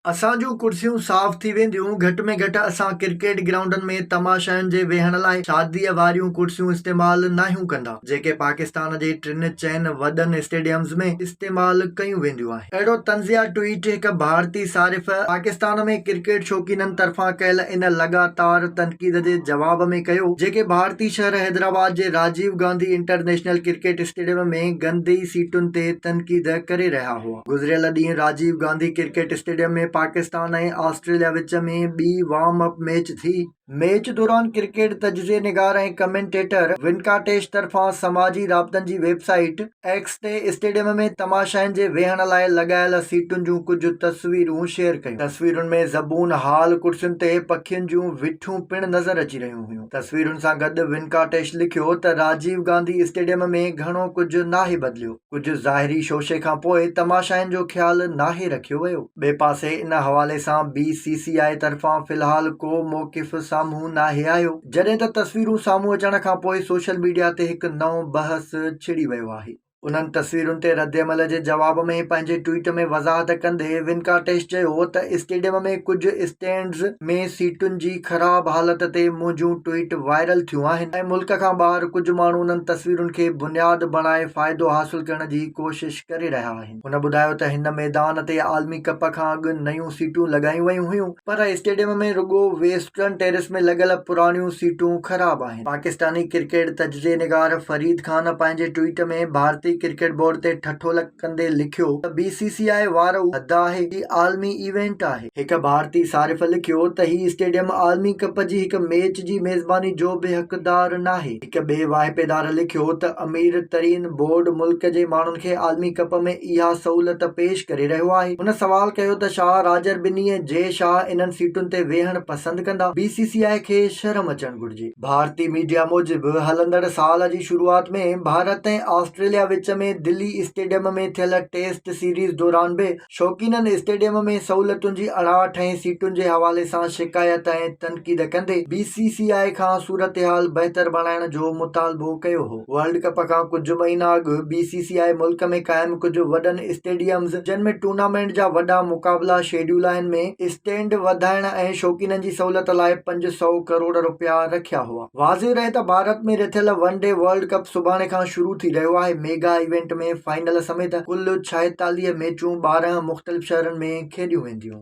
اسان جون ڪرسيون صاف ٿي وينديون، گهٽ ۾ گهٽ اسان ڪرڪيٽ گرائونڊن ۾ تماشائين جي ويهڻ لاء شاديء واريون ڪرسيون استعمال ناهيون ڪندا، جيڪي پاڪستان جي ٽن چئن وڏن اسٽيڊيمز ۾ استعمال ڪيون وينديون آهن. اهڙو طنزيه ٽوئيٽ هڪ ڀارتي صارف پاڪستان ۾ ڪرڪيٽ شوقينن طرفان ڪيل ان لڳاتار تنقيد جي جواب ۾ ڪيو، جيڪي ڀارتي شهر حيدرآباد جي Rajiv Gandhi international cricket stadium ۾ گندي سيٽن تي تنقيد ڪري رهيا هئا. گذريل ڏينهن Rajiv Gandhi cricket stadium ۾ Pakistan ۽ Australia وچ ۾ ٻي وارم اپ ميچ ٿي. ميچ دوران ڪرڪيٽ تجزيي نگار ۽ ڪمينٽيٽر ونڪاٽيش طرفان سماجي رابطن جي ويب سائيٽ ايڪس تي اسٽيڊيم ۾ تماشائين جي ويهڻ لاء لڳايل سيٽن جون ڪجهه تصويرون شيئر ڪيون. تصويرن ۾ زبون حال ڪرسين تي پکين جون وٺيون پڻ نظر اچي رهيون هيون. تصويرن سان گڏ ونڪاٽيش لکيو ته راجيو گانڌي اسٽيڊيم ۾ گهڻو ڪجهه ناهي بدليو. ڪجهه ظاهري شوشي کان پوء تماشائين جو خيال ناهي رکيو ويو. ٻئي پاسي ان حوالي سان بي سي سي آء طرفان في الحال ڪو موقف سامهون ناهي آيو، جڏهن ته تصويرون سامهون اچڻ کان پوء سوشل ميڊيا تي هڪ نئون بحث ڇڙي ويو آهي. انهن تصويرن تي ردعمل جي جواب ۾ پنهنجي ٽوئيٽ ۾ وضاحت ڪندي ونڪاٽيش چيو ته اسٽيڊيم ۾ ڪجهه اسٽينڊز، ۾ سيٽن جي خراب حالت تي منهنجون ٽوئيٽ وائرل ٿيون آهن ۽ ملڪ کان ٻاهر ڪجهه ماڻهو انهن تصويرن کي بنياد بڻائي فائدو حاصل ڪرڻ جي ڪوشش ڪري رهيا آهن. هن ٻڌايو ته هن ميدان تي عالمي ڪپ کان اڳ نيون سيٽون لڳايون ويون هيون پر اسٽيڊيم ۾ رڳو ويسٽرن ٽيريس ۾ لڳل پراڻيون سيٽون خراب آهن. پاڪستاني ڪرڪيٽ تجزئي نگار فريد خان پنهنجي ٽوئيٽ ۾ ڀارتي ڪرڪيٽ بورڊ تي ٺٺولڪ ڪندي لکيو ته بي سي سي آء وارو حد آهي هي عالمي ايونٽ آهي. هڪ ڀارتي صارف لکيو ته هي اسٽيڊيم عالمي ڪپ جي هڪ ميچ جي ميزباني جو به حقدار ناهي. هڪ ٻئي واهپيدار لکيو ته امير ترين بورڊ ملڪ جي ماڻهن کي عالمي ڪپ ۾ اها سهولت پيش ڪري رهيو آهي. هن سوال ڪيو ته شاهه راجر ٻنيء جي شاهه انهن سيٽن تي ويهڻ پسند ڪندا؟ بي سي سي آء کي شرم اچڻ گهرجي. ڀارتي ميڊيا موجب هلندڙ سال جي شروعات ۾ ڀارت ۽ آسٽريليا وچ ۾ دلي اسٽيڊيم ۾ ٿيل ٽيسٽ سيريز دوران به شوقينن اسٽيڊيم ۾ سهولتن جي اڙاٺ ۽ سيٽن جي حوالي سان شڪايت ۽ تنقيد ڪندي بي سي سي آء کان صورتحال بهتر بڻائڻ جو مطالبو ڪيو هو. ورلڊ ڪپ کان ڪجهه مهينا اڳ بي سي سي آء ملڪ ۾ قائم ڪجهه وڏن اسٽيڊيمز جن ۾ ٽورنامينٽ جا وڏا مقابلا شيڊيول آهن ۾ اسٽينڊ وڌائڻ ۽ شوقينن جي سهولت لاء پنج سؤ ڪروڙ رپيا رکيا هئا. واضح رهي ته ڀارت ۾ رٿيل ون ڊي ورلڊ ڪپ سڀاڻي کان شروع ٿي رهيو آهي، ميگا ايونٽ ۾ فائنل سميت ڪل ڇائيتاليهه ميچون ٻارهن مختلف شهرن ۾ کيڏيون وينديون.